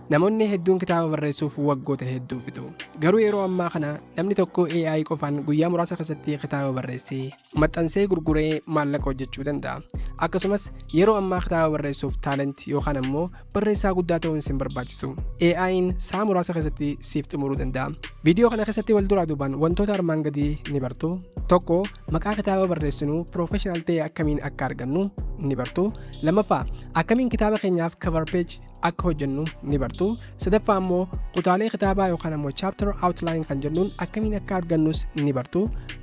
Namoonni hedduun kitaaba barreessuuf waggoota hedduu fixu. Garuu yeroo ammaa kana namni tokko AI qofaan guyyaa muraasa keessatti kitaaba barreessee, maxxansee gurguree maallaqa hojjechuu danda'a. Akkasumas yeroo ammaa kitaaba barreessuuf taalent yookaan ammoo barreessaa guddaa ta'uun sin barbaachisu. AI'n sa'a muraasa keessatti siif xumuruu danda'a. Viidiyoo kana keessatti wal duraa duubaan wantoota armaan gadii ni bartu. Tokko maqaa kitaaba barreessinu piroofeshinaal ta'e akkamiin akka argannu ni bartu. Lammaffaa akkamiin kitaaba keenyaaf cover page akka hojjennu ni bartu sadaffaa immoo kutaalee kitaabaa yookaan ammoo chapter outline kan jennuun akkamiin akka argannus ni bartu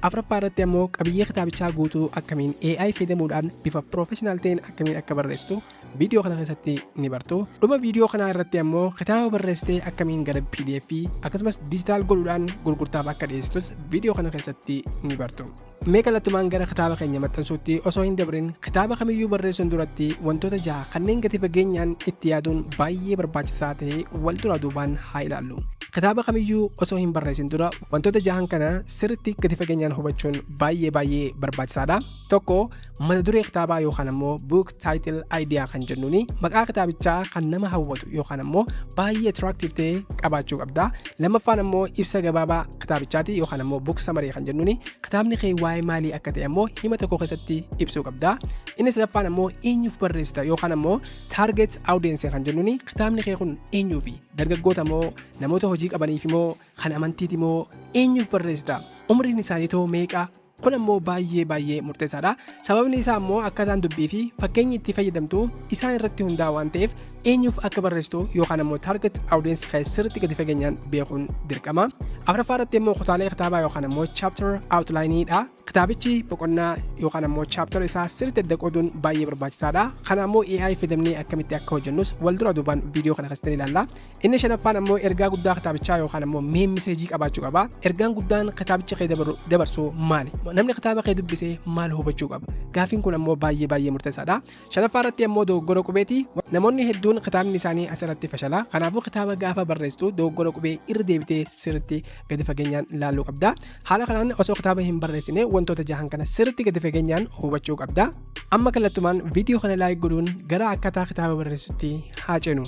afraffaa irratti ammoo qabiyyee kitaabichaa guutuu akkamiin AI fayyadamuudhaan bifa professional ta'een akkamiin akka barreessitu viidiyoo kana keessatti ni bartu dhuma viidiyoo kanaa irratti ammoo kitaaba barreessitee akkamiin gara pdf akkasumas digital godhuudhaan gurgurtaaf akka dhiyeessitus viidiyoo kana keessatti ni bartu Mee kallattumaan gara kitaaba keenya maxxansuutti osoo hin dabrin kitaaba kamiyyuu barreessuun duratti wantoota jaha kanneen gadi fageenyaan itti yaaduun baay'ee barbaachisaa ta'e wal duraa duubaan haa ilaallu. Kitaaba kamiyyuu osoo hin barreessin dura wantoota jahan kana sirriitti gadi fageenyaan hubachuun baay'ee baay'ee barbaachisaadha. Tokko mata duree kitaabaa yookaan ammoo book title idea kan jennuun maqaa kitaabichaa kan nama hawwatu yookaan ammoo baay'ee attractive ta'e qabaachuu qabda lammaffaan ammoo ibsa gabaabaa kitaabichaati yookaan ammoo book summary kan jennuun kitaabni kee waa'ee maalii akka ta'e ammoo hima tokko keessatti ibsuu qabda inni sadaffaan ammoo eenyuuf barreessita yookaan ammoo target audience kan jennuun kitaabni kee kun eenyuufi dargaggoota moo namoota hojii qabaniif moo kan amantiiti moo eenyuuf barreessita umriin isaanii too meeqa Kun ammoo baay'ee baay'ee murteessaadha. Sababni isaa ammoo akkaataan dubbii fi fakkeenyi itti fayyadamtu isaan irratti hundaa waan ta'eef eenyuuf akka barreessitu yookaan ammoo target audience kee sirriitti gadi fageenyaan beekuun dirqama. Afraffaa irratti immoo kutaalee kitaabaa yookaan ammoo chapter outline dha. Kitaabichi boqonnaa yookaan ammoo chapter isaa sirriitti adda qooduun baay'ee barbaachisaadha. Kana ammoo AI fayyadamnee akkamitti akka hojjennus wal dura duubaan viidiyoo kana keessatti ilaalla. Inni shanaffaan ammoo ergaa guddaa kitaabichaa yookaan ammoo main message qabaachuu qaba. Ergaan guddaan kitaabicha kee dabaru- dabarsu maali? Namni kitaaba kee dubbise maal hubachuu qaba? Gaafiin kun ammoo baay'ee baay'ee murteessaadha. Shanaffaa irratti ammoo dogoggora qubeeti. Namoonni hedduun kitaabni isaanii asirratti fashala. Kanaafuu kitaaba gaafa barreessitu dogoggora qubee irra deebitee sirriitti gadi fageenyaan ilaaluu qabda. Haala kanaan osoo kitaaba hin barreessine wantoota jahan kana sirriitti gadi fageenyaan hubachuu qabda. Amma kallattumaan viidiyoo kana laayik godhuun gara akkaataa kitaaba barreessutti haa ceenu.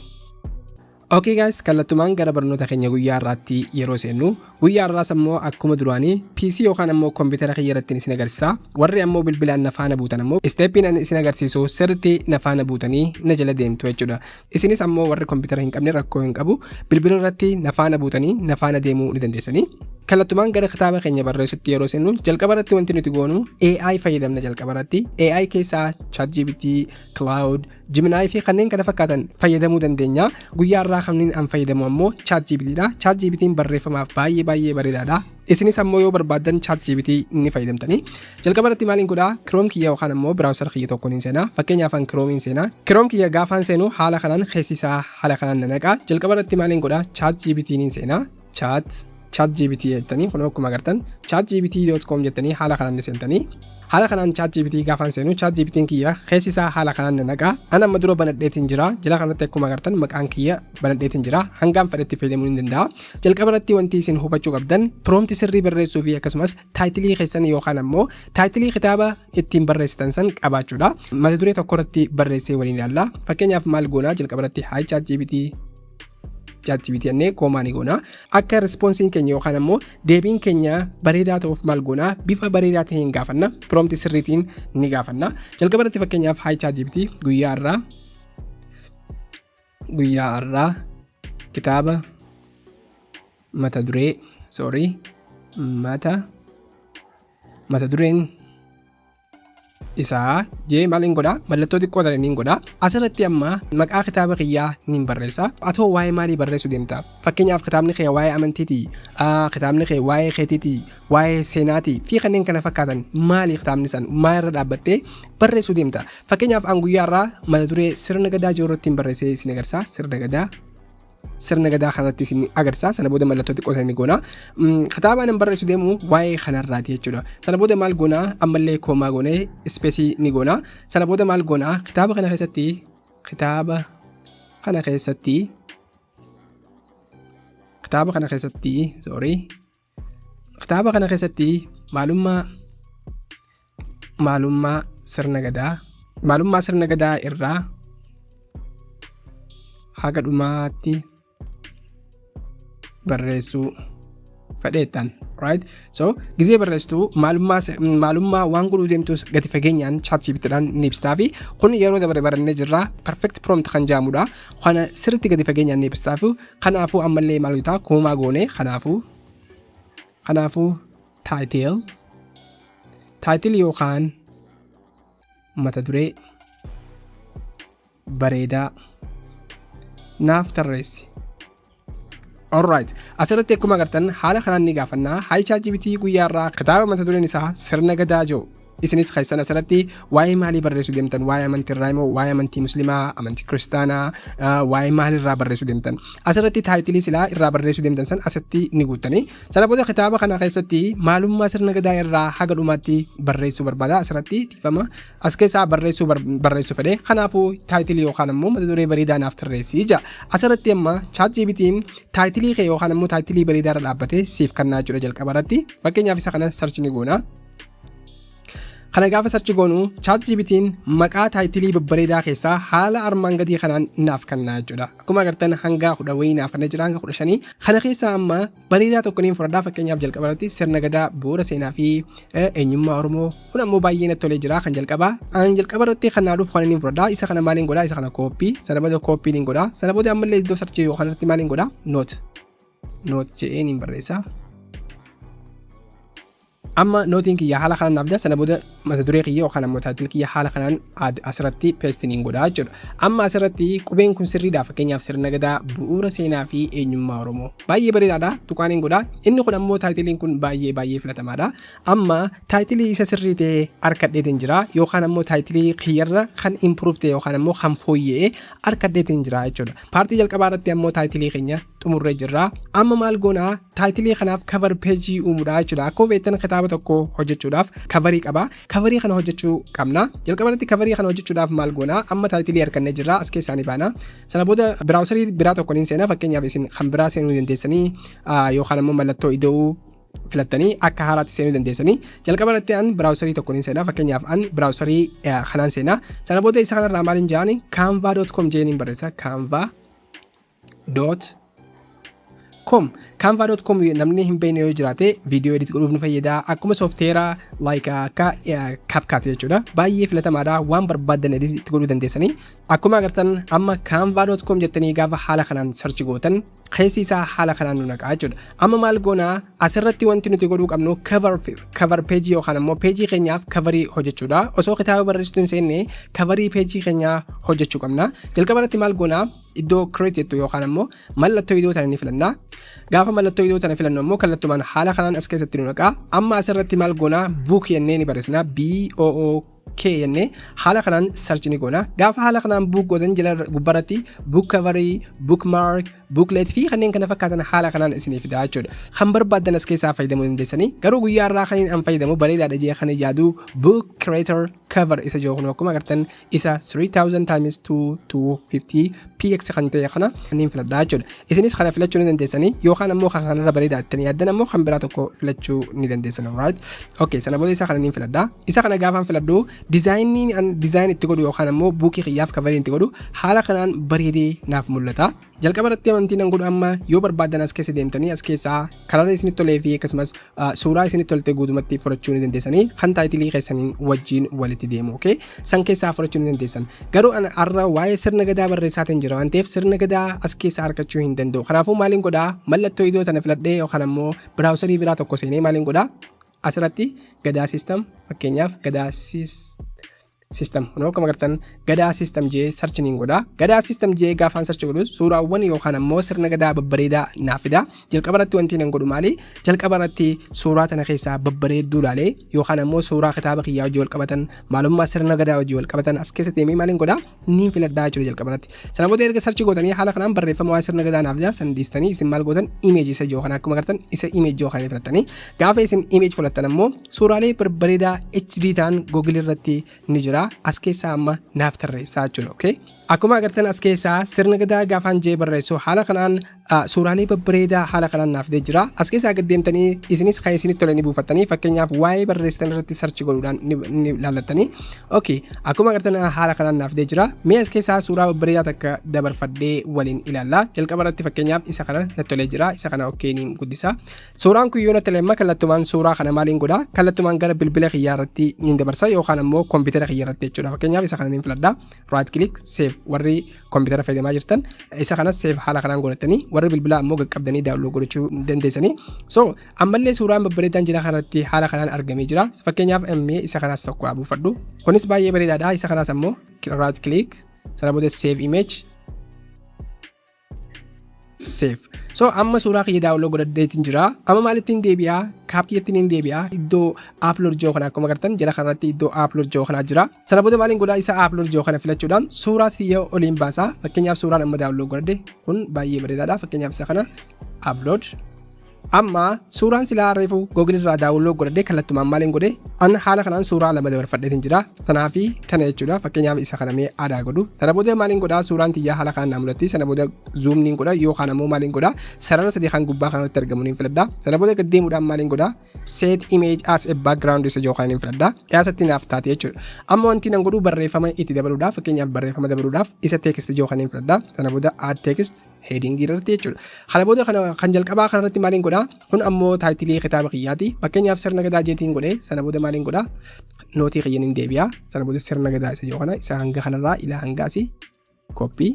Okay guys kallattumaan gara barnoota keenya guyyaa irraatti yeroo seennu guyyaa irraas ammoo akkuma duraanii PC yookaan ammoo kompiitara kiyya irratti isin agarsiisa warri ammoo bilbilaan na faana buutan ammoo isteeppiin ani isin agarsiisu sirriitti na faana buutanii na jala deemtu jechuudha isinis ammoo warri kompiitara hin qabne rakkoo hin qabu bilbila irratti na faana buutanii na faana deemuu ni dandeessanii kallattumaan gara kitaaba keenya barreessutti yeroo seennu jalqaba irratti wanti nuti goonu AI fayyadamna jalqaba irratti AI keessaa ChatGPT, Cloud, Gemini fi kanneen kana fakkaatan fayyadamuu dandeenya. Guyyaa irraa kanneen an fayyadamu ammoo ChatGPT dha. ChatGPT barreeffamaaf baay'ee baay'ee bareedaadha. Isinis ammoo yoo barbaaddan ChatGPT ni fayyadamtanii. Jalqaba irratti maaliin godhaa? Chrome kiyya yookaan ammoo browser kiyya tokkoon hin seenaa. Fakkeenyaaf an Chrome hin seenaa. Chrome kiyya gaafaan seenu haala kanaan keessi isaa haala kanaan na naqaa. Jalqaba irratti maaliin godhaa? ChatGPT hin seenaa. chat chat gpt jettanii kun akkuma agartan chat gpt.com jettanii haala kanaan seentanii haala kanaan chat gpt gaafaan seenu chat gpt kiyya keessi isaa haala kanaan naqaa an amma dura banadheetiin jira jala kanatti akkuma agartan maqaan kiyya banadheetiin jira hangaan fedhetti fayyadamuu ni danda'a jalqaba irratti wanti isin hubachuu qabdan proomti sirrii barreessuu fi akkasumas taayitilii keessan yookaan ammoo taayitilii kitaaba ittiin barreessitan san qabaachuudha mata duree tokko irratti barreessee waliin ilaalla fakkeenyaaf maal goonaa jalqaba irratti haay chat gpt ChatGPT jennee koomaa ni goona. Akka rispoonsiin keenya yookaan ammoo deebiin keenya bareedaa ta'uuf maal goona bifa bareedaa ta'een gaafanna. Prompt sirriitiin ni gaafanna. Jalqaba irratti fakkeenyaaf hi ChatGPT guyyaa irraa guyyaa irraa kitaaba mata duree sorry mata mata dureen isaa jee maal hin godhaa mallattoo xiqqoo tana niin godhaa asirratti amma maqaa kitaaba kiyyaa niin barreessa atoo waa'ee maalii barreessuu deemta fakkeenyaaf kitaabni kee waa'ee amantiiti ah, kitaabni kee waa'ee keetiiti waa'ee seenaati fi kanneen kana fakkaatan maalii kitaabni san maal irra dhaabbattee barreessuu deemta fakkeenyaaf an guyyaa irraa mata duree sirna gadaa jiru irratti hin barreessee isin agarsiisa sirna gadaa sirna gadaa kanarratti isin agarsiisa. Sana booda mallattoo xiqqoo sana ni goona. Mm, Kitaabaan hin barreessu deemu waa'ee kanarraati jechuudha. Sana booda maal goona ammallee koomaa goonee ispeesii ni goona. Sana booda maal goona kitaaba kana keessatti kitaaba kana keessatti kitaaba kana keessatti sorry Kitaaba kana keessatti maalummaa maalummaa sirna gadaa maalummaa sirna gadaa irraa haga dhumaatti barreessuu fedheettan right so gizee barreessitu maalummaa se- maalummaa waan godhuu deemtus gadi fageenyaan chat siibitidhaan ni ibsitaa fi kun yeroo dabaree barannee jirra perfect prompt kan jaamudha kana sirritti gadi fageenyaan ni ibsitaa fi Kanaafuu ammallee maal gotaa koomaa goonee kanaafuu kanaafuu title title yookaan mata duree bareedaa naaf tarreessi. Alright. Asirratti akkuma agartan haala kanaan ni gaafannaa. Haayichaa jibitii guyyaarraa kitaaba mata dureen isaa sirna gadaa jiru. isinis keessan asirratti waa'ee maalii barreessuu deemtan waa'ee amantii irraa immoo waa'ee amantii muslimaa amantii kiristaanaa waa'ee maalii irraa barreessuu deemtan asirratti taayitilii silaa irraa barreessuu deemtan san asitti ni guuttanii sana booda kitaaba kana keessatti maalummaa sirna gadaa irraa haga dhumaatti barreessuu barbaada asirratti dhiifama as keessaa barreessuu barreessuu fedhe kanaafuu taayitilii yookaan immoo mata duree bareedaa naaf tarreessii jira asirratti amma chaat jiibitiin taayitilii kee yookaan immoo taayitilii bareedaa irra dhaabbatee siif kannaa jira jalqaba irratti fakkeenyaaf isa kana sarchi ni goona. Kana gaafa sarchi goonu chaat jibitiin maqaa taayitilii babbareedaa keessaa haala armaan gadii kanaan naaf kennaa jechuudha. Akkuma agartan hanga kudha wayii naaf kennaa jira hanga kudha shanii. Kana keessaa amma bareedaa tokko niin fudhadhaa fakkeenyaaf jalqaba irratti sirna gadaa bu'uura seenaa fi eenyummaa Oromoo kun ammoo baay'ee natti tolee jira kan jalqabaa. An jalqaba irratti kan naa dhufu kan niin fudhadhaa isa kana maaliin godhaa isa kana kooppii sana booda kooppii niin godhaa sana booda ammallee iddoo sarchii yookaan irratti maaliin godhaa noot noot jedhee niin barreessaa. Amma nootiin kiyya haala kanaan naaf jira sana booda mata duree kiyya yookaan ammoo taayitil kiyya haala kanaan aad asirratti peestiin hin godhaa jechuudha. Amma asirratti qubeen kun sirriidha fakkeenyaaf sirna gadaa bu'uura seenaa fi eenyummaa Oromoo. Baay'ee bareedaadha tuqaan hin godhaa. Inni kun ammoo taayitiliin kun baay'ee baay'ee filatamaadha. Amma taayitilii isa sirrii ta'e harkadheetiin jira yookaan ammoo taayitilii kiyyarra kan improve ta'e yookaan ammoo kan fooyya'e harkadheetiin jira jechuudha. Paartii jalqabaa irratti ammoo taayitilii keenya xumurree jirra. Amma maal goona taayitilii kanaaf kavar peejii uumuudha jechuudha. Akkuma beektan kitaaba tokko hojjechuudhaaf kavarii qaba. Kavarii kana hojjechuu qabna. Jalqaba irratti kavarii kana hojjechuudhaaf maal goona amma taayitilii argannee jirra as keessaa ni baana. Sana booda biraawusarii biraa tokko ni seena fakkeenyaaf isin kan biraa seenuu dandeessanii yookaan ammoo mallattoo ida'uu filattanii akka haaraatti seenuu dandeessanii jalqaba irratti an biraawusarii tokko ni seenaa fakkeenyaaf an biraawusarii kanaan seenaa sana booda isa kanarraa maaliin jedhani canva.com jedhaniin barreessa canva dot com canva dot com namni hin beekne yoo jiraate viidiyoo edit godhuuf nu fayyada akkuma soofteera like akka capcut jechuudha baay'ee filatamaadha waan barbaaddan edit itti godhuu dandeessanii akkuma agartan amma canva dot com jettanii gaafa haala kanaan sarchi gootan keessi isaa haala kanaan nu naqaa jechuudha amma maal goonaa asirratti wanti nuti godhuu qabnu cover cover page yookaan immoo page keenyaaf coverii hojjechuudha osoo kitaaba barreessitu hin seenne coverii page keenyaa hojjechuu qabna jalqaba irratti maal goonaa iddoo create jettu yookaan ammoo mallattoo idoo tana ni filanna. Gaafa mallattoo idoo tana filannu ammoo kallattumaan haala kanaan as keessatti nu naqaa. Amma asirratti maal goonaa book jennee ni barreessina B O O K jennee haala kanaan search ni goona. Gaafa haala kanaan book gootan jala gubbarratti book cover, book mark, booklet fi kanneen kana fakkaatan haala kanaan isiniif fidaa jechuudha. Kan barbaaddan as keessaa fayyadamuu dandeessanii garuu guyyaa irraa kan an fayyadamu bareedaadha jee kan yaadu book creator cover isa jiru kun akkuma agartan isa 3000 times 2 to 50 px kan ta'e kana niin filadha jechuudha. Isinis kana filachuu ni dandeessanii yookaan ammoo kan kanarra bareeda jettanii yaaddan ammoo kan biraa tokko filachuu ni dandeessan right. Okay sana booda isa kana niin filadha. Isa kana gaafaan filadhu dizaayinii an dizaayin itti godhu yookaan ammoo buukii kiyyaaf kavarii itti godhu haala kanaan bareedee naaf mul'ata. Jalqaba irratti amantii nan godhu amma yoo barbaadan as keessa deemtanii as keessaa karara isinitti tolee fi akkasumas ah, suuraa isinitti tolte guutumatti fudhachuu ni dandeessanii kan taayitilii keessaniin wajjin walitti deemu okay? san keessaa fudhachuu ni dandeessan garuu ana har'a waa'ee sirna gadaa barreessaatiin jira waan ta'eef sirna gadaa as keessaa argachuu hin danda'u kanaafuu maaliin godhaa mallattoo idoo tana filadhee yookaan ammoo biraawusarii biraa tokko seenee maaliin godhaa asirratti gadaa system fakkeenyaaf gadaa system system kun akkuma agartan gadaa system jee search niin godha gadaa system jee gaafaan search godhus suuraawwan yookaan ammoo sirna gadaa babbareedaa naaf fida jalqaba irratti wanti nan godhu maali jalqaba irratti suuraa tana keessaa babbareedduu laalee yookaan ammoo suuraa kitaaba kiyyaa hojii wal qabatan maalummaa sirna gadaa hojii wal qabatan as keessatti deemee maaliin godha niin filadhaa jechuudha jalqaba irratti sana booda erga search gootanii haala kanaan barreeffama waa'ee sirna gadaa naaf fida san dhiistanii isin maal gootan image isa jiru kana akkuma agartan isa image jiru kana filattanii gaafa isin image filattan ammoo Suuraalee barbareedaa HD ta'an Google irratti ni jira. As keessaa amma naaf tarreessaa jechuudha. Okay? Akkuma agartan as keessaa sirna gadaa gaafaan jee barreessu haala kanaan suuraalee babbareedaa haala kanaan naaf dee jira. As keessaa gad deemtanii isinis kan isinitti tole ni buufattanii fakkeenyaaf waa'ee barreessitan irratti sarchi godhuudhaan ni laallattanii. Okay. Akkuma agartan haala kanaan naaf dee jira. Mee as keessaa suuraa babbareedaa takka dabarfadhee waliin ilaalla. Jalqaba irratti fakkeenyaaf isa kana natti tolee jira. Isa kana okay niin guddisa. Suuraan kun yoo natti lemma kallattumaan suuraa kana maaliin godha kallattumaan gara bilbila kiyyaa irratti niin dabarsa yookaan ammoo kompiitara kiyya irratti jechuudha fakkeenyaaf isa kana niin filadha right click save warri kompiitara fayyadamaa jirtan isa kanas save haala kanaan godhatanii warri bilbila ammoo qaqqabdanii daawloo godhachuu dandeessanii so ammallee suuraan babbareedaan jira kanarratti haala kanaan argamee jira fakkeenyaaf ammee isa kanas tokko haa buufadhu kunis baay'ee bareedaadha isa kanas ammoo right click sana booda save image seef so amma suuraa kiyya daawuloo godhadheetiin jira amma maalittiin deebi'aa kaaptiyyattiin hin deebi'aa iddoo aaplood jiru kana akkuma agartan jala kanarratti iddoo aaplood jiru kanaa jira sana booda maaliin godhaa isa aaplood jiru kana filachuudhaan suuraa kiyya oliin baasaa fakkeenyaaf suuraan amma daawuloo godhadhe kun baay'ee bareedaadha fakkeenyaaf isa kana aaplood Amma suuraan silaa reefu Google irraa daawunlood godhadhee kallattumaan maaliin godhe an haala kanaan suuraa lama dabarfadheetiin jira sanaa fi kana jechuudha fakkeenyaaf isa kana mee aadaa godhu sana booda maaliin godha suuraan tiyyaa haala kanaan naa mul'atti sana booda zuumniin godha yookaan ammoo maaliin godha sarara sadii kan gubbaa kanarratti argamu niin filadha sana booda gad deemuudhaan maaliin godha set image as a background isa yookaan niin filadha dhiyaasatti naaf taate jechuudha amma wanti nan godhu barreeffama itti dabaluudhaaf fakkeenyaaf barreeffama dabaluudhaaf isa text yookaan niin filadha sana booda add text heading irratti jechuudha. Kana booda kana kan jalqabaa kanarratti maaliin godha? Kun ammoo taayitilii kitaaba kiyyaati. Fakkeenyaaf sirna gadaa jeetiin godhe sana booda maaliin godha? Nootii kiyyan hin deebi'a. Sana booda sirna gadaa isa jiru kana isa hanga kanarraa ilaa hanga asii koppii.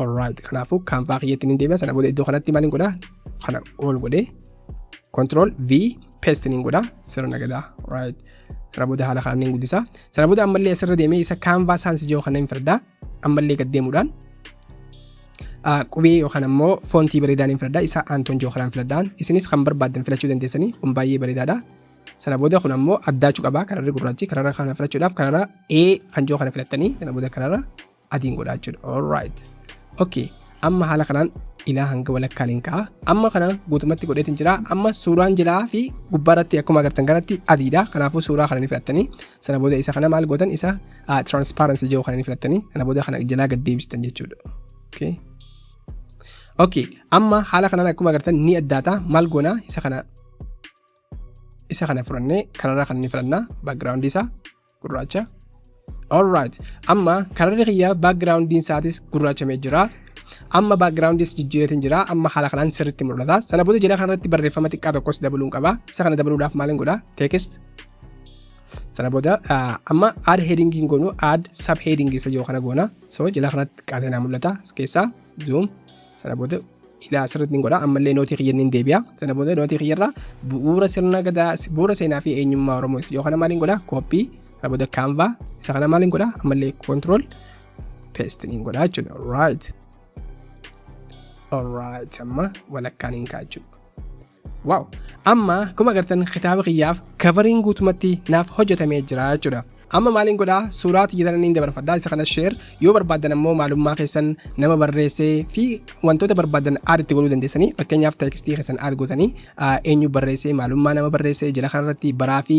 Alright kanaafuu kaanvaa kiyyatti hin deebi'a. Sana booda iddoo kanatti maaliin godha? Kana ol godhe control V paste niin godha sirna gadaa. Alright. Sana booda haala kanaan niin guddisa. Sana booda ammallee asirra deemee isa kaanvaa saansi jiru kana hin fardaa. ammallee gad deemuudhaan qubee yookaan ammoo foontii bareedaan hin filadha isa aantoon jiru kanaan filadhaan isinis kan barbaaddan filachuu dandeessanii kun baay'ee bareedaadha. Sana booda kun ammoo addaachuu qaba kararri gurraachi kararra kana filachuudhaaf kararra A kan jiru kana filattanii sana booda kararra adiin godhaa jechuudha. Alright. Okay. Amma haala kanaan ilaa hanga walakkaan hin ka'a. Amma kana guutumatti godheetiin jira. Amma suuraan jilaa fi gubbaarratti akkuma agartan kanatti adiidha. Kanaafuu suuraa kana ni filattanii sana booda isa kana maal gootan isa ah, transparency jiru kana ni filattanii sana booda kana jalaa gad deebistan jechuudha. Okay. Okay. Amma haala kanaan akkuma agartan ni addaata maal goona isa kana isa kana fudhannee kanarraa kan ni filannaa background isaa gurraacha. Alright. Amma kararri kiyya background isaatis gurraachamee jira. Amma background is jijjiiratin jira. Amma haala kanaan sirriitti mul'ata. Sana booda jala kanarratti barreeffama xiqqaa tokkos dabaluun qaba. Isa kana dabaluudhaaf maaliin godha? Text sana booda amma aad headingiin goonu aad sab headingii isa jiru kana goona so jala kanatti qaateenaa mul'ata as keessaa zoom sana booda ilaa asirratti hin godha ammallee nootii kiyya hin deebi'a sana booda nootii kiyyarraa bu'uura sirna gadaa bu'uura seenaa fi eenyummaa oromoo isa jiru kana maaliin godha kooppii sana booda kaanvaa isa kana maaliin godha ammallee koontirool peestiin hin godha jechuudha right alright amma walakkaan hin kaa'achuudha Waaw! Amma akkuma agartan kitaaba kiyyaaf kavariin guutumatti naaf hojjetamee jira jechuudha. Amma maaliin godhaa suuraa tiyyatan inni dabarfadhaa isa kana sheer yoo barbaadan ammoo maalummaa keessan nama barreessee fi wantoota barbaadan aad itti godhuu dandeessanii fakkeenyaaf teekstii keessan aad gootanii eenyu barreessee maalummaa nama barreessee jala kanarratti baraa fi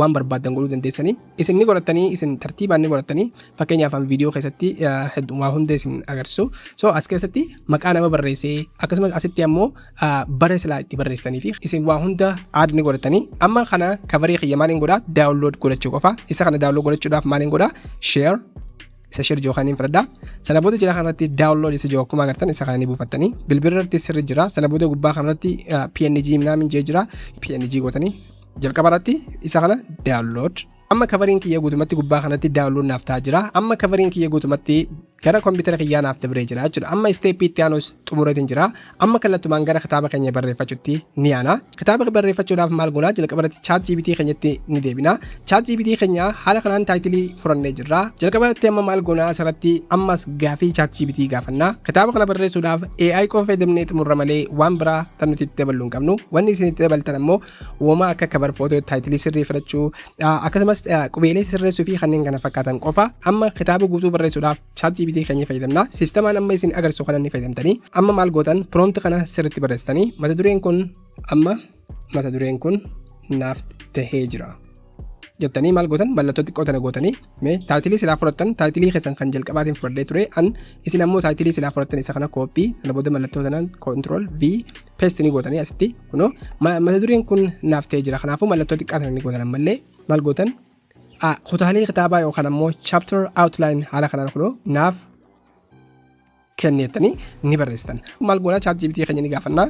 waan barbaadan godhuu dandeessanii Isin ni godhattanii, isin tartiibaan ni godhattanii. Fakkeenyaaf an viidiyoo keessatti ah, heddu- waa hunda isin agarsiisu. So as keessatti maqaa nama barreessee akkasumas asitti ammoo ah, bara silaa itti barreessitanii fi isin waa hunda aad ni godhattanii. Amma kana kavaree kiyya maaliin godhaa? Daawunlood godhachuu qofa. Isa kana daawunlood godhachuudhaaf maaliin godhaa? Share isa share jiru kanin fudhadha. Sana booda jala kanarratti download isa jiru akkuma agartan isa kana ni buufattanii. Bilbila irratti sirri jira. Sana booda gubbaa kanarratti ah, PNG minaamin jee jira. PNG gootanii jalqaba irratti isa kana download amma kavariin kiyya guutumatti gubbaa kanatti download naaf ta'aa jira amma kavariin kiyya guutumatti gara kompiitara kiyyaa naaf dabree jira jechuudha amma isteeppii itti aanus xumuratiin jira amma kallattumaan gara kitaaba keenya barreeffachuutti ni aana kitaaba barreeffachuudhaaf maal goonaa jalqaba irratti chaat jiibitii keenyatti ni deebina chaat jiibitii keenya haala kanaan taayitilii furannee jirra jalqaba irratti amma maal goonaa asirratti ammas gaafii chaat jiibitii gaafannaa kitaaba kana barreessuudhaaf AI qofa fayyadamnee xumurra malee waan biraa kan nuti itti dabaluu hin qabnu wanni isin itti dabaltan ammoo Woma akka kabar footoo taayitilii sirrii filachuu akkasumas qubeelee sirreessuu fi kanneen kana fakkaatan qofa amma kitaaba guutuu barreessuudhaaf chaat jiibitii keenya fayyadamna. Siistemaan amma isin agarsiisu kana ni fayyadamtanii amma maal gootan piroomti kana sirriitti barreessitanii mata dureen kun amma mata dureen kun naaf tahee jira. jettanii maal gootan mallattoo xiqqoo tana gootanii mee taayitilii silaa fudhattan taayitilii keessan kan jalqabaatiin fudhadhee ture an isin ammoo taayitilii silaa fudhattan isa kana kooppii sana booda mallattoo tanaan koontirool v peesti ni gootanii asitti kunoo mata dureen kun naaf ta'ee jira kanaafuu mallattoo xiqqaa tana ni gootan ammallee maal gootan kutaalee kitaabaa yookaan ammoo chapter outline haala kanaan kunoo naaf kenni jettanii ni barreessitan. Maal goona chat GPT keenya ni gaafanna.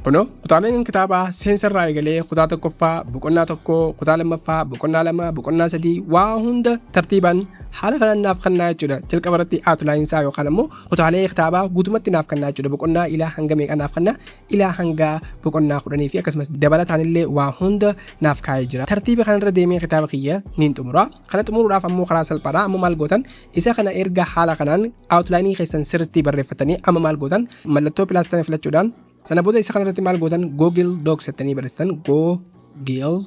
Kunoo kutaaleen kitaabaa seensa irraa eegalee kutaa tokkoffaa boqonnaa tokko kutaa lammaffaa boqonnaa lama boqonnaa sadii waa hunda tartiibaan haala kanaan naaf kennaa jechuudha. Jalqaba irratti outline isaa yookaan immoo kutaalee kitaabaa guutumatti naaf kennaa jechuudha. Boqonnaa ilaa hanga meeqa naaf kennaa ilaa hanga boqonnaa kudhanii fi akkasumas dabalataan illee waa hunda naaf kaa'ee jira. Tartiiba kanarra deemee kitaaba kiyya niin xumura. Kana xumuruudhaaf ammoo karaa salphaadha. Ammoo maal gootan Isa kana erga haala kanaan outline keessan sirriitti barreeffatanii amma maal gootan mallattoo plus tana filachuudhaan sana booda isa kanarratti maal gootan google docs jettanii barreessitan google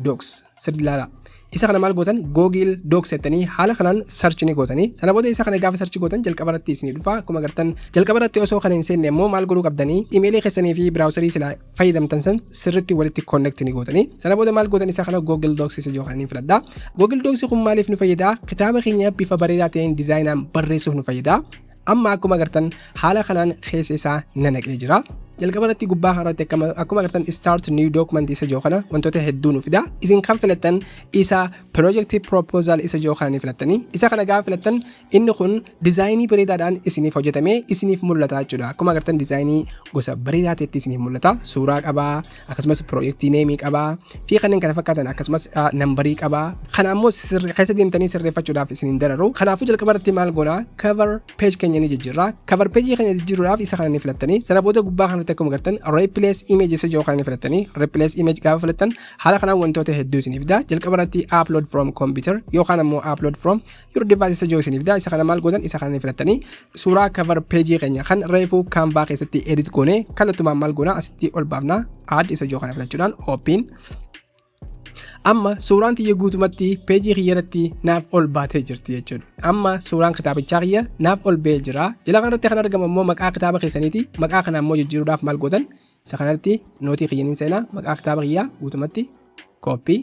docs sirri ilaalaa. Isa kana maal gootan google docs jettanii haala kanaan search ni gootanii sana booda isa kana gaafa search gootan jalqaba irratti isinii dhufa akkuma agartan jalqaba irratti osoo kana hin seenne immoo maal godhuu qabdanii imeelii keessanii fi biraawusarii silaa fayyadamtan san sirriitti walitti connect ni gootanii sana booda maal gootan isaa kana Google Docs isa jiru kana ni filadha Google Docs kun maaliif nu fayyada kitaaba keenya bifa bareedaa ta'een dizaayinaan barreessuuf nu fayyada amma akkuma agartan haala kanaan keessa isaa nanaqee jira jalqaba irratti gubbaa kanarratti akkuma agartan start new document isa jiru kana wantoota hedduu nu fida isin kan filattan isa project proposal isa jiru kana ni filattanii isa kana gaafa filattan Inni kun dizaayinii bareedaadhaan isiniif hojjetamee isiniif mul'ata jechuudha. Akkuma agartan dizaayinii gosa bareedaa ta'etti isiniif mul'ata. Suuraa qaba, akkasumas piroojeektii neemii qaba, fi kanneen kana fakkaatan akkasumas ah, nambarii qaba. Kana ammoo sirri- keessa deemtanii sirreeffachuudhaaf isin hin dararu. Kanaafuu jalqaba irratti maal goona? Cover page keenya ni jijjiirra. Cover page keenya jijjiiruudhaaf isa kana ni filattanii. Sana booda gubbaa kanatti akkuma agartan replace image isa jiru kana ni filattanii. Replace image gaafa filattan haala kanaan wantoota hedduu isiniif fida. Jalqaba irratti upload from computer yookaan ammoo upload from your device isa jiru isiniif daa isa kana maal gootan isa kana filattanii suuraa cover page keenya kan reefuu canva keessatti edit goone kallattumaan maal goona asitti ol baafna add isa jiru kana filachuudhaan open amma suuraan tiyya guutumatti peejii kiyya irratti naaf ol baatee jirti jechuudha. Amma suuraan kitaabichaa kiyya naaf ol ba'ee jira. Jala kanarratti kan argamu immoo maqaa kitaaba keessaniiti. Maqaa kana immoo jijjiiruudhaaf maal gootan Isa kanarratti nootii kiyya niin seenaa maqaa kitaaba kiyyaa guutumatti kooppii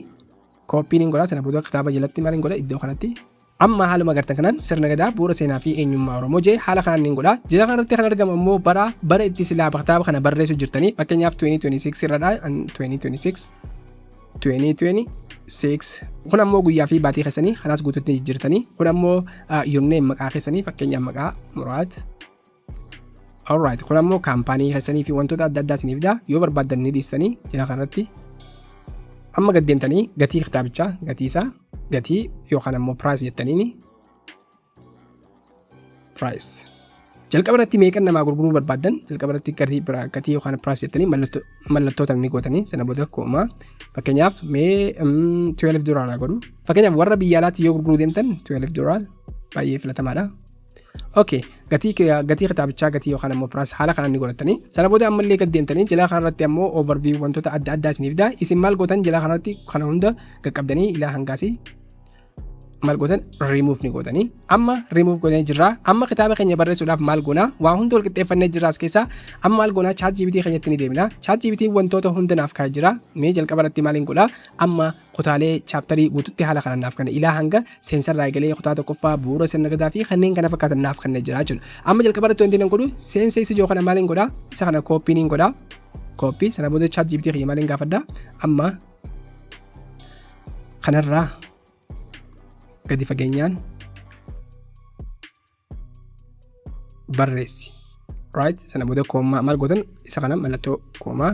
kooppii niin godha sana booda kitaaba jalatti maal niin godha iddoo kanatti amma haaluma gartan kanaan sirna gadaa bu'uura seenaa fi eenyummaa oromoo jee haala kanaan niin godha jila kanarratti kan argamu ammoo bara bara itti silaa kitaaba kana barreessu jirtanii fakkeenyaaf 2026 irradha 2026 2026 kun ammoo guyyaa fi baatii keessanii kanaas guututti jijjiirtanii kun ammoo yomneen maqaa keessanii fakkeenyaaf maqaa muraat Alright, kun ammoo kaampaanii keessanii fi wantoota adda addaa isiniif fida. Yoo barbaaddan ni dhiistanii jala kanarratti. Amma gad deemtanii gatii kitaabichaa, gatii isaa, gatii yookaan ammoo price jettaniini. Price. Jalqaba irratti meeqan namaa gurguruu barbaaddan jalqaba irratti gatii biraa gatii yookaan price jettanii mallattoo mallattoota ni gootanii sana booda koomaa fakkeenyaaf mee mm, 12 doolaaraa godhu. Fakkeenyaaf warra biyya alaatti yoo gurguruu deemtan 12 doolaar baay'ee filatamaadha. Okay. gatii kee- gatii kitaabichaa gatii yookaan ammoo piraas haala kanaan ni godhatanii sana booda ammallee gad deemtanii jalaa kanarratti ammoo overview wantoota adda addaa isiniif daa isin maal gootan jalaa kanarratti kana hunda qaqqabdanii ilaa hangaasii maal gootan remove ni gootanii amma remove gootanii jirraa amma kitaaba keenya barreessuudhaaf maal goonaa waa hunda wal qixxeeffannee jirraa as keessaa amma maal goonaa chat GPT keenyatti ni deemina chat GPT wantoota hunda naaf kaa'ee jira mee jalqaba irratti maaliin godhaa amma kutaalee chaaptarii guututti haala kanaan naaf kenna. Ilaa hanga seensarraa eegalee kutaa tokkoffaa bu'uura sirna gadaa fi kanneen kana fakkaatan naaf kenna jira jechuudha. Amma jalqaba irratti wanti nan godhu seensa isa jiru kana maaliin godha? Isa kana kooppii niin godha. Kooppii sana booda chaat jibitii kiyya maaliin gaafadha? Amma kanarraa gadi fageenyaan barreessi right sana booda koomaa maal gootan isa kana mallattoo koomaa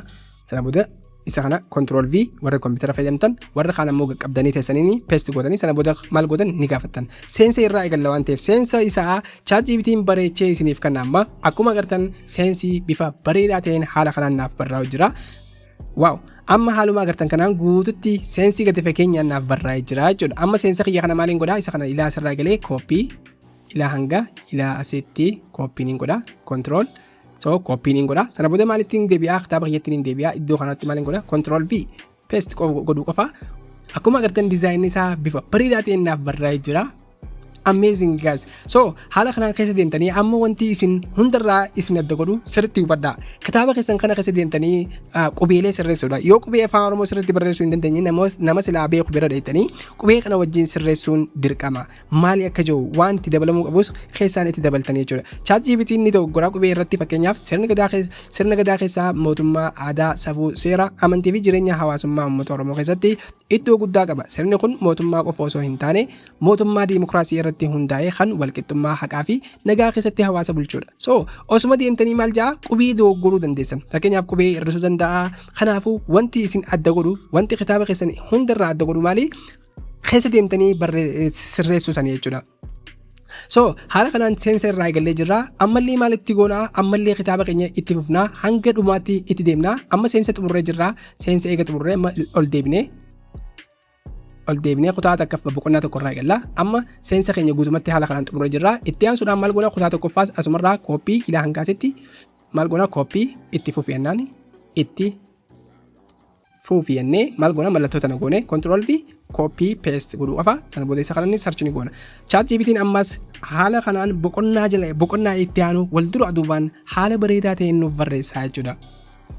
sana booda isa kana control v warra koompitara fayyadamtan warra kaan ammoo qaqqabdanii teessanii pest gootanii sana booda maal gootan ni gaafattan seensa irraa eegalla waan ta'eef seensa isaa chaatjiibitiin bareechee isiniif kanna amma akkuma agartan seensi bifa bareedaa ta'een haala kanaan naaf barraa'u jira Waaw amma haaluma agartan kanaan guututti seensii gadi fageenyaan naaf barraa'ee jira jechuudha. Amma seensa kiyya kana maaliin godhaa isa kana ilaa asirraa galee kooppii ilaa hanga ilaa asitti kooppiin hin godhaa kontirool so kooppiin hin godhaa sana booda maalitti hin deebi'aa kitaaba kiyyatti hin deebi'aa iddoo kanatti maaliin godhaa kontirool v peest godhuu qofa akkuma agartan dizaayinni isaa bifa bareedaa ta'een naaf barraa'ee jira. amazing guys so haala kanaan keessa deemtanii amma wanti isin hundarraa isin adda godhu sirriitti hubadhaa kitaaba keessan kana keessa deemtanii ah, qubeelee sirreessuudha yoo qubee afaan oromoo sirriitti barreessuu hin dandeenye namoos- nama silaa beeku bira dheettanii qubee kana wajjin sirreessuun dirqama maali akka jiru waan itti dabalamuu qabus keessaan itti dabaltanii jechuudha chaat jiibitiin ni dogoggora qubee irratti fakkeenyaaf sirna gadaa keessa sirna gadaa keessaa mootummaa aadaa safuu seera amantii fi jireenya hawaasummaa uummata oromoo keessatti iddoo guddaa qaba sirni kun mootummaa qofa osoo hin taane mootummaa diimokiraasii irratti hundaa'ee kan walqixxummaa haqaa fi nagaa keessatti hawaasa bulchuudha. So osuma deemtanii maal ja'a qubee dogoggoruu dandeessan. Fakkeenyaaf qubee hir'isuu danda'a. Kanaafuu wanti isin adda godhu wanti kitaaba keessan hundarraa adda godhu maali? Keessa deemtanii sirreessuu sanii jechuudha. So haala kanaan seensa irraa eegallee jirra. Ammallee maal itti goonaa? Ammallee kitaaba keenya itti fufnaa hanga dhumaatti itti deemnaa. Amma seensa xumurree jirra. Seensa eega xumurree ol deebinee ol deebinee kutaa takkaaf boqonnaa tokko irraa eegalla. Amma seensa keenya guutumatti haala kanaan xumurree jirra. Itti aansuudhaan maal goona kutaa tokkoffaas asumarraa kooppii ilaa hangaasitti maal goona kooppii itti fufiyannaan itti fufiyannee maal goona mallattoo tana goone kontirool fi kooppii peest godhuu qofa sana booda isa kanaan sarchi ni goona. Chaat jibitiin ammas haala kanaan boqonnaa jala boqonnaa itti aanu wal dura duubaan haala bareedaa ta'een nuuf barreessaa jechuudha.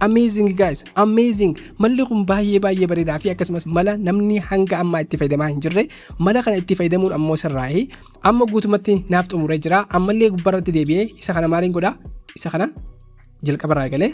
Amazing guys, amazing. Malli kun baay'ee baay'ee bareedaa fi akkasumas mala namni hanga ammaa itti fayyadamaa hin jirre mala kana itti fayyadamuun ammoo sirraa'ee amma guutumatti naaf xumuree jira. Ammallee gubbarratti deebi'ee isa kana maaliin godha? Isa kana jalqabarraa eegalee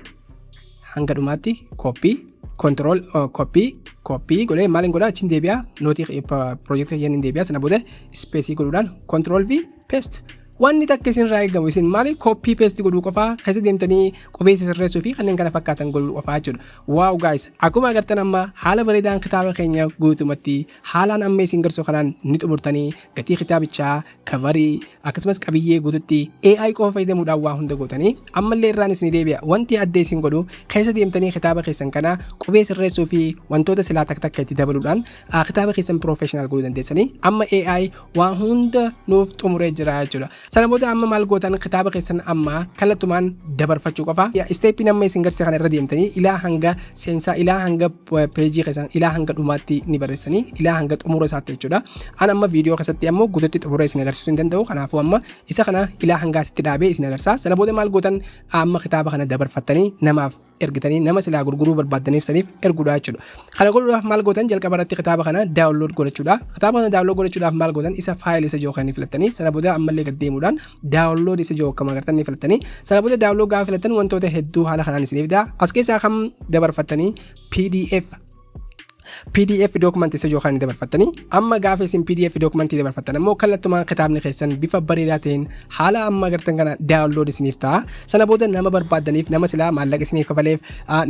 hanga dhumaatti kooppii kontirool kooppii kooppii godhee maaliin godha? Achiin deebi'aa nootii piroojeektii keenya hin deebi'aa sana booda ispeesii godhuudhaan kontirool fi peest. Wanni takka isinirraa eegamu isin maali koppii peesti godhuu qofaa keessa deemtanii qubeessa sirreessuu fi kanneen kana fakkaatan godhuu qofaa jechuudha. Waaw gaayis akkuma agartan amma haala bareedaan kitaaba keenya guutumatti haalaan amma isin garsu kanaan ni xumurtanii gatii kitaabichaa kavarii akkasumas qabiyyee guututti AI qofa fayyadamuudhaan waa hunda gootanii ammallee irraan isin deebi'a wanti adda isin godhu keessa deemtanii kitaaba keessan kana qubee sirreessuu fi wantoota silaa takka takka itti dabaluudhaan Ah, kitaaba keessan professional godhuu dandeessanii amma AI waa hunda nuuf xumuree jira jechuudha. Sana booda amma maal gootan kitaaba keessan amma kallattumaan dabarfachuu qofa. Isteeppiin amma isin garsiise kana irra deemtanii ilaa hanga seensaa ilaa hanga peejii keessan ilaa hanga dhumaatti ni barreessanii ilaa hanga xumura isaatti jechuudha. An amma viidiyoo keessatti ammoo guututti xumura isin agarsiisuu hin danda'u. Kanaafuu amma isa kana ilaa hangaasitti dhaabee isin agarsiisa. Sana booda maal gootan amma kitaaba kana dabarfattanii namaaf ergitanii nama silaa gurguruu barbaaddaniif saniif erguudha jechuudha. Kana godhuudhaaf maal gootan jalqaba irratti kitaaba kana daawunlood godhachuudha. Kitaaba kana daawunlood godhachuudhaaf maal gootan isa faayilii isa jiru kan ni filattanii sana booda ammallee gad deemuudhaan daawunlood isa jiru akkuma agartan ni filattanii sana booda daawunlood gaafa filattan wantoota hedduu haala kanaan isiniif fida. As keessaa kan dabarfattanii PDF pdf dookumantii isa yookaan dabarfattanii amma gaafa isin pdf dookumantii dabarfattan ammoo kallattumaan kitaabni keessan bifa bareedaa ta'een haala amma agartan kana daawunlood isiniif ta'a sana booda nama barbaaddaniif nama silaa maallaqa isiniif kafaleef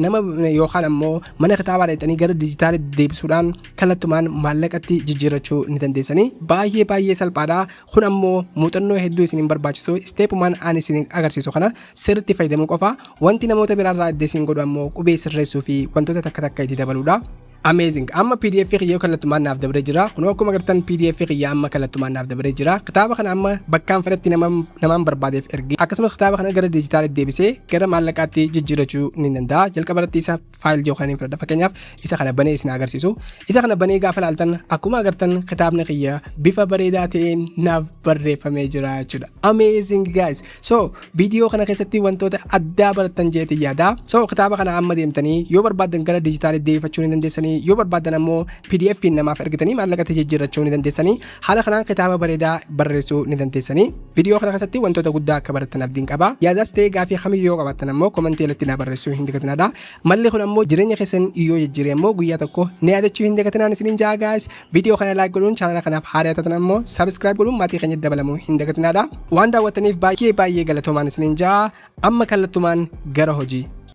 nama yookaan ammoo mana kitaabaa dhaqxanii gara dijitaalitti deebisuudhaan kallattumaan maallaqatti jijjiirrachuu ni dandeessanii baay'ee baay'ee salphaadha Kun ammoo muuxannoo hedduu isin hin barbaachisu. Isteepumaan aan isin agarsiisu kana sirriitti fayyadamuu qofa. Wanti namoota biraarraa adda isin godhu ammoo qubee sirreessuu fi wantoota takka takka itti dabaluudha. Amazing. Amma PDF kiyya kallattumaan naaf dabaree jira. Kunoo akkuma agartan PDF kiyya amma kallattumaan naaf dabaree jira. Kitaaba kana amma bakkaan fedhetti namaan barbaadeef ergee akkasumas kitaaba kana gara dijitaalitti deebisee gara maallaqaatti jijjiirachuu ni danda'a. Jalqaba irratti isaaf faayil jiru kana fudhadha fakkeenyaaf isa kana banee isin agarsiisu isa kana banee gaafa laaltan akkuma agartan kitaabni kiyya bifa bareedaa ta'een naaf barreeffamee jira jechuudha amazing guys so viidiyoo kana keessatti wantoota addaa barattan jeetii yaada so kitaaba kana amma deemtanii yoo barbaaddan gara dijitaalii deeffachuu ni dandeessanii yoo barbaaddan ammoo pdf namaaf ergitanii maallaqatti jijjiirrachuu ni dandeessanii Haala kanaan kitaaba bareedaa barreessuu ni dandeessanii. Viidiyoo kana keessatti wantoota guddaa akka barattan abdiin qaba. Yaadaas ta'ee gaafii kamiyyuu yoo qabaattan ammoo komantii irratti naa barreessuu hin dagatinaa. Malli kun ammoo jireenya keessan yoo jijjiire ammoo guyyaa tokko na yaadachuu hin dagatinaan isiniin jaa gaayis. Viidiyoo kana laayik godhuun chaanala kanaaf haaraa taatan ammoo sabiskiraayib godhuun maatii keenya dabalamuu hin dagatinaa. Waan daawwattaniif baay'ee baay'ee galatoomaa isiniin jaa. Amma kallattumaan gara hojii.